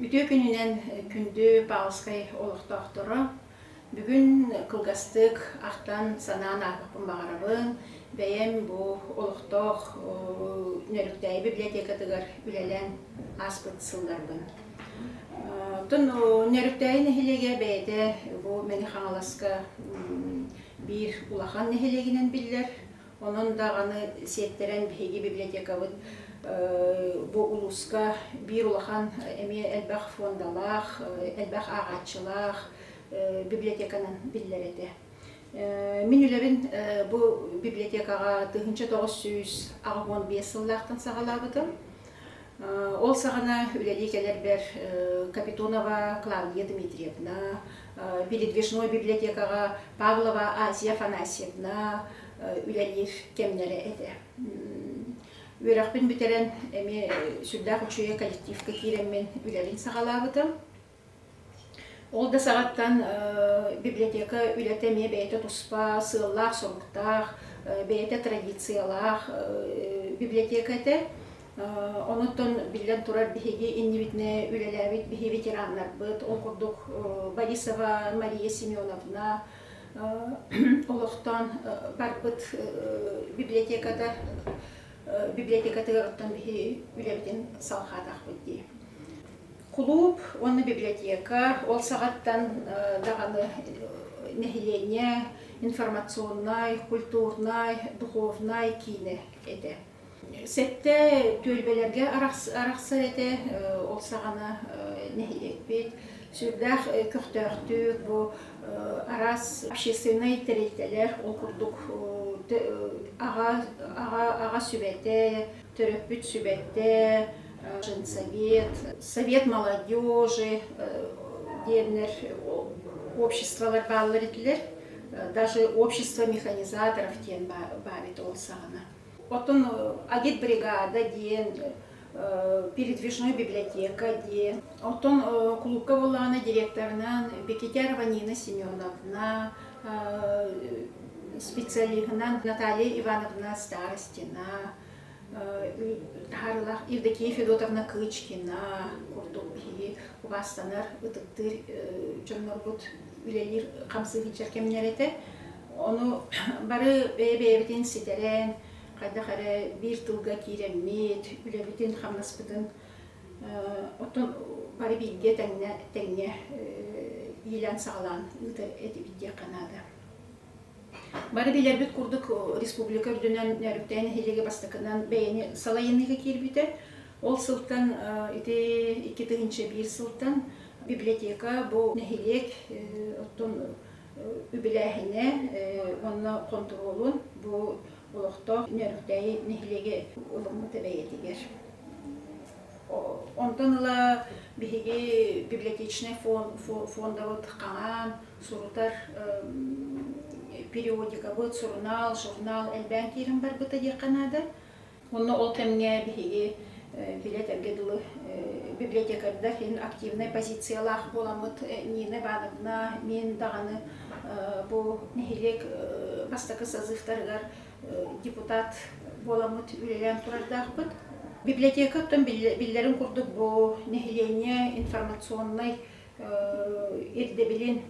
Үтүө күнүнэн күндү Павловскай олохтоохторо! Бүгүн кылгастык ахтан-санаан ааһыахпын баҕарабын. Бэйэм бу олохтоох Нөрүктээйи библиотекатыгар үлэлээн ааспыт сылларбын. Оттон Нөрүктээйи нэһилиэгэ бэйэтэ бу Мэҥэ Хаҥаласка биир улахан нэһилиэгинэн биллэр. Онон даҕаны сиэттэрэн биһиги библиотекабыт бу улууска биир улахан эмиэ элбэх фондалаах, элбэх ааҕааччылаах библиотеканан биллэр этэ. Мин үлэбин бу библиотекаҕа тыһыынча тоҕус сүүс аҕыс уон биэс сыллаахтан саҕалаабытым. Ол саҕана үлэлии кэлэрбэр Капитонова Клавдия Дмитриевна, Передвижной библиотекаҕа Павлова Асия Афанасьевна үлэлиир кэмнэрэ этэ. Үөрэхпин бүтэрэн эмиэ сүрдээх үчүгэй коллективка киирэммин үлэлиин саҕалаабытым. Ол да саҕаттан библиотека үлэтэ эмиэ бэйэтэ туспа сыаллаах-соруктаах, бэйэтэ традициялаах библиотека этэ. Онон биллэн турар, биһиги иннибитинэ үлэлээбит биһи ветераннарбыт, ол курдук Борисова Мария Семеновна олохтоон барбыт библиотеката библиотекатыгар оттон биһи үлэбитин салҕаатахпыт дии. Кулууп уонна библиотека, ол саҕаттан даҕаны нэһилиэнньэ информационнай, культурнай, духовнай киинэ этэ. Сэттэ түөлбэлэргэ арахсар этэ, ол саҕана нэһилиэкпит сүрдээх көхтөөхтүк бу араас общественнай тэрилтэлэр ол курдук аҕа аҕа сүбэтэ Төрөппүт сүбэттэ Женсовет, Совет молодежи диэннэр обществолар бааллар этилэр, даже общество механизаторов диэн баар этэ ол саҕана. Оттон агитбригада диэн, передвижной библиотека диэн. Оттон кулуупка буоллаҕына директорынан Бекетярова Нина Семеновна, специалиһынан Наталья Ивановна Старостина, таһаарылаах Евдокия Федотовна Кычкина курдук киһи убаастанар, ытыктыыр дьоннорбут үлэлиир хамсыгычар кэмнэр этэ. Ону бары бэйэ-бэйэбитин ситэрэн, хайдах эрэ биир тылга киирэммит, үлэбитин-хамнаспытын Оттон бары бииргэ тэҥнэ тэҥҥэ иилээн-саҕалаан ыытар этибит диэххэ наада. Бары билэрбит курдук республика үрдүнэн Нөөрүктээн нэһилиэги бастакынан бэйэни салайынныыга киирбитэ. Ол сылтан ити икки тыһыынча биир сылтан библиотека бу нэһилиэк оттон үбүлээһини уонна хонтуруолун бу олохтоох Нөрүктээйи нэһилиэги ылыммыт эбэйэтигэр. Онтон ыла биһиги библиотечнай фондабыт хаҥаан, сурутар периодикабыт, сурунаал, журнал элбээн киирэн барбыта диэххэ наада. Онно ол кэмҥэ биһиги филиэтэргэ дылы библиотекардар иһин активнай позициялаах буоламмыт Нина Ивановна мин даҕаны бу нэһилиэк бастакы созывтарыгар депутат буоламмыт үлэлээн турардаахпыт. Библиотека оттон биллэрин курдук бу нэһилиэнньэ информационнай ирдэбилин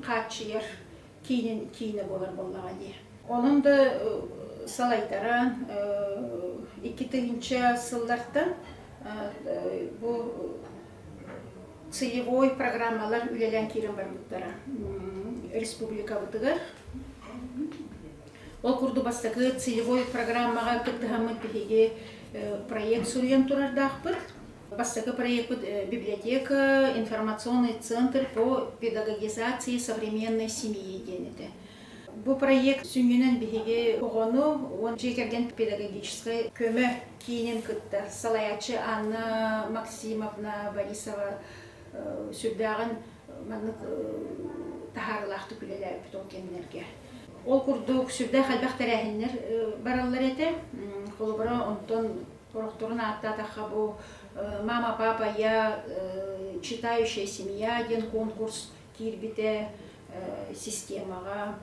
хааччыйар киинин киинэ буолар буоллаҕа дии. Онон да салайтаран икки тыһыынча сыллартан бу сыйевой программалар үлэлээн киирэн барбыттара республикабытыгар. Ол курдук бастакы сыйевой программаҕа кыттыһаммыт биһиги проект суруйан турардаахпыт. Бастакы проекпыт библиотека, информационный центр по педагогизации современной семьи диэн этэ. Бу проект сүнньүнэн биһиги оҕону уон дьиэ кэргэн педагогическай көмө киинин кытта салайааччы Анна Максимовна Борисова сүрдээҕин маннык таһаарылаахтык үлэлээбит ол кэмнэргэ. Ол курдук сүрдээх элбэх тэрээһиннэр бараллар этэ. Холобура, онтон Орохторун ааттаатахха бу мама, папа, я читающая семья диэн конкурс киирбитэ системаҕа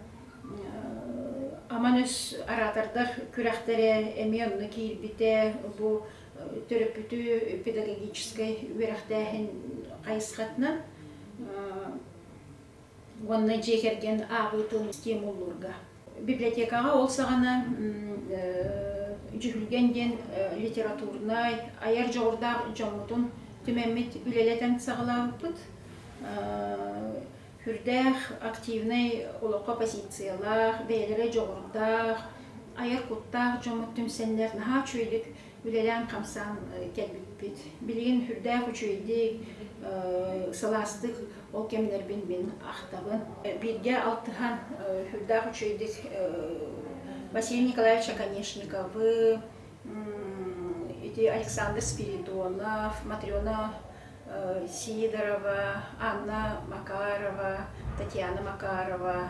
аман өс араатардар күрэхтэрэ эмиэ онно киирбитэ бу төрөппүтү педагогическай үөрэхтээһин хайысхатынан уонна дьиэ кэргэн аабы тылын систиэм уллуурга. Библиотекаҕа ол саҕана Дьүһүлгэн диэн литературнай, айар дьоҕурдаах дьоммутун түмэммит үлэлэтэн саҕалаабыппыт. Үрдээх, активнай олоххо позициялаах, бэйэлэрэ дьоҕурдаах, айар куттаах дьоммут түмсэннэр наһаа үчүгэйдик үлэлээн-хамсаан кэлбиппит. Билигин сүрдээх үчүгэйдик, сылаастык ол кэмнэрбин мин ахтабын. Бииргэ алтыһан сүрдээх үчүгэйдик Василий Николаевич Оконешниковы, ити Александр Спиридонов, Матрена Сидорова, Анна Макарова, Татьяна Макарова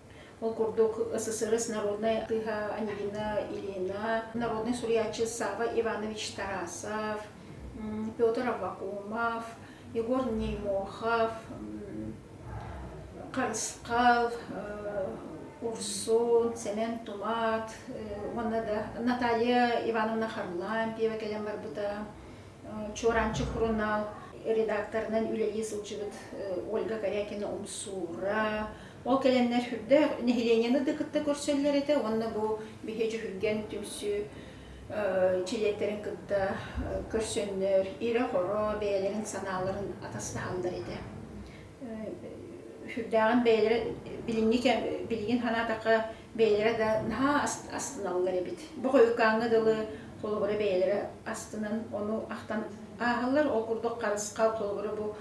Ол курдук СССР народнай атыыһа Ангелина Ильина, народнай суруйааччы Сава Иванович Тарасов, Петр Авакумов, Егор Неймохов, Харысхал, Урсун, Сэмэн Тумат уонна да Наталья Ивановна Харлампьева кэлэн барбыта, Чуораанчык хронал редакторынан үлэлии сылдьыбыт Ольга Корякина-Умсуура, Ол кэлэннэр үрдээх нэһилиэнньэни да кытта көрсөллөр этэ уонна бу биһиэч үһүргэн түмсүү чилиэттэрин кытта көрсөннөр ирэ-хоро бэйэлэрин санааларын атастаһаллар этэ. Үһүрдээҕин бэйэлэрэ билиҥҥи кэм билигин санаатахха бэйэлэрэ да наһаа астыналлар эбит. Бу хойукааҥҥа дылы холобура бэйэлэрэ астынан ону ахтан ааһаллар. Ол курдук харысхал холобура бу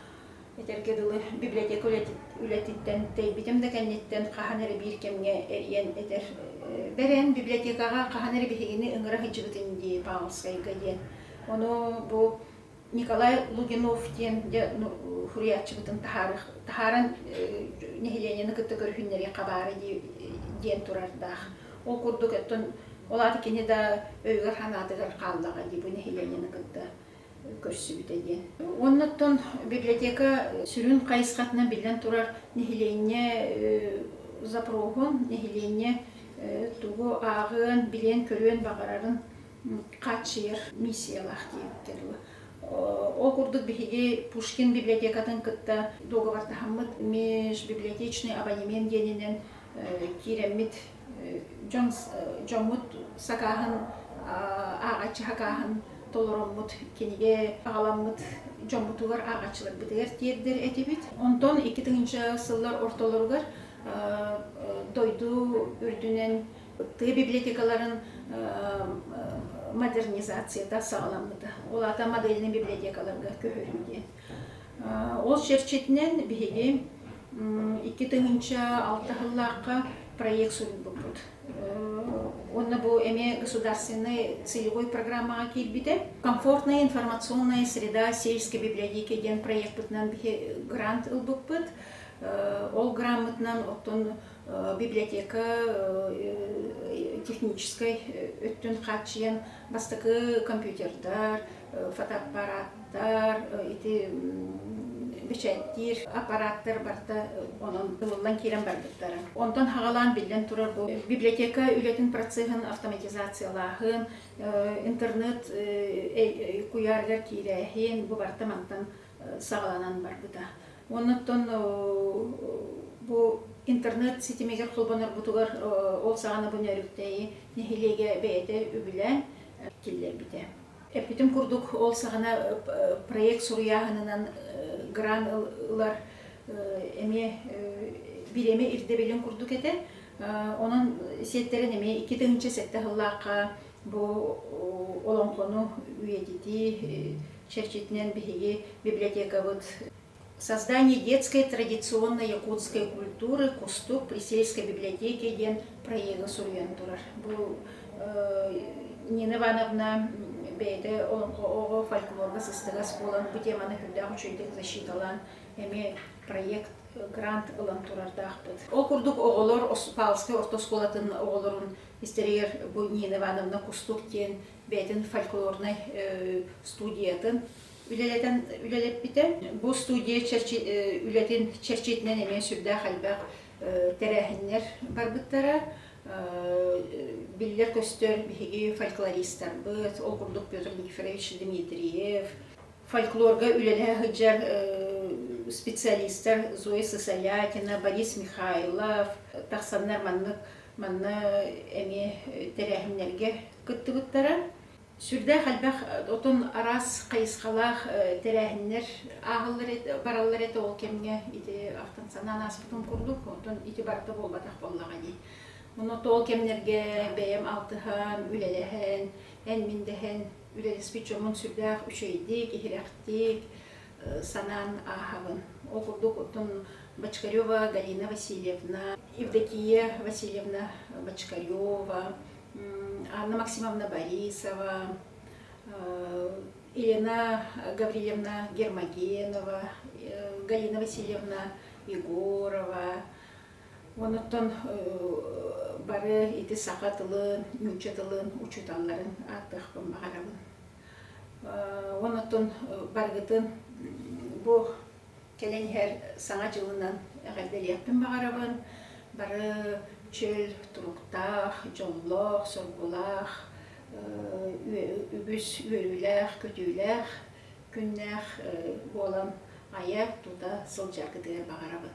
Этэргэ дылы, библиотека үлэтиттэн тэйбитим да кэнниттэн хаһан эрэ биир кэмҥэ ийэн этэр бэрэн библиотекаҕа хаһан эрэ биһигини ыҥыра сылдьыбытын дии Павловскайга диэн. Ону бу Николай Лугинов диэн дьэ суруйааччыбытын таһааран нэһилиэнньэни кытта көрүһүннэриэххэ баара дии диэн турардаах. Ол курдук, оттон ол аата кини да өйүгэр-санаатыгар хааллаҕа дии бу нэһилиэнньэни кытта көрсүбүтэ диэн. Оннуттан библиотека сүрүн хайысхатынан биллэн турар нэһилиэнньэ запруһун, нэһилиэнньэ тугу ааҕыан, билиэн-көрүөн баҕарарын хааччыйар миссиялаах диэбиттэр дуо. Ол курдук биһиги Пушкин библиотекатын кытта договортаһаммыт межбиблиотечный абонемент диэнинэн киирэммит дьон дьоммут сакааһын ааҕаччы сакааһын толороммут кинигэ аҕаламмыт дьоммутугар ааҕаччыларбытыгар тиэрдэр этибит онтон икки тыһыынча сыллар ортолоругар дойду үрдүнэн тыа библиотекаларын модернизацията саҕаламмыта ол аата модельнай библиотекаларга көһөрүү диэн Ол чэрчитинэн биһиги икки тыһыынча алта сыллаахха проект суруйбуппут. Уонна бу эмиэ государственнай сыйгой программаҕа киирбитэ. Комфортная информационная среда сельской библиотеки диэн проекпытынан грант ылбыппыт. Ол граммытынан оттон библиотека техническэй өттүн хааччыйан бастакы компьютердар, фотоаппараттар, ити бэчэттиир аппараттар барта онон ылыллан киирэн барбыттара. Онтон хаҕалаан биллэн турар бу библиотека үлэтин процеһын автоматизациялааһын, интернет куйаарыгар киирээһин бу барта мантан саҕаланан барбыта. Оннуттан бу интернет ситимигэр холбонорбутугар ол саҕана бу нөрүктэйи нэһилиэгэ бэйэтэ үбүлээн киллэрбитэ. Эппитим курдук, ол саҕана проект суруйааһынынан грант ылар эмиэ бириэмэ ирдэбилин курдук этэ. Онон сиэттэрэн эмиэ икки тыһыынча сэттэ сыллаахха бу олоҥхону үйэтитии чэрчитинэн биһиги библиотекабыт Создание детской традиционной якутской культуры Кустук при сельской библиотеке диэн проега суруйан турар. Бу Нина Ивановна бэйэтэ оҕо фольклорга сыстыгас буолан бу теманы күннээх үчүгэйдик защиталаан эмиэ проект грант ылан турардаахпыт. Ол курдук оҕолор Палскай орто оскуолатын оҕолорун истэригэр бу Нина Ивановна Кустук диэн бэйэтин фольклорнай студиятын үлэлэтэн үлэлэппитэ. Бу студия чэрчи, үлэтин чэрчитинэн эмиэ сүрдээх элбэх тэрээһиннэр барбыттара. Биллэр-көстөр биһиги фольклористарбыт, ол курдук Петр Никифорович Дмитриев, фольклорга үлэлэһэ сылдьар специалистар Зоя Сысоякина, Борис Михайлов тахсаннар маннык манна эмиэ тэрээһиннэргэ кыттыбыттара. Сүрдээх элбэх отон араас хайысхалаах тэрээһиннэр ааһаллар бараллар этэ ол кэмҥэ ити алтан санаан ааспытым курдук отон ити барыта буолбатах буоллаҕа дии Ону ол кэмнэргэ бэйэм алтыһан, үлэлэһэн, эн-мин дэһэн үлэлэспит дьоммун сүрдээх үчэйдик, иһирэхтик санаан ааһабын. Ол курдук оттон Бочкарева Галина Васильевна, Евдокия Васильевна Бочкарева, Анна Максимовна Борисова, Елена Гаврильевна Гермогенова, Галина Васильевна Егорова, онуттан бары ити саха тылын, нуучча тылын учууталларын ааттыахпын баҕарабын. Онуттан барыгытын бу Кэлэн иһэр Саҥа дьылынан эҕэрдэлиэхпин баҕарабын. Бары чөл туруктаах, дьоллоох, соргулаах, үгүс үөрүүлээх-көтүүлээх күннээх буолан айа-тута сылдьаргытыгар баҕарабын.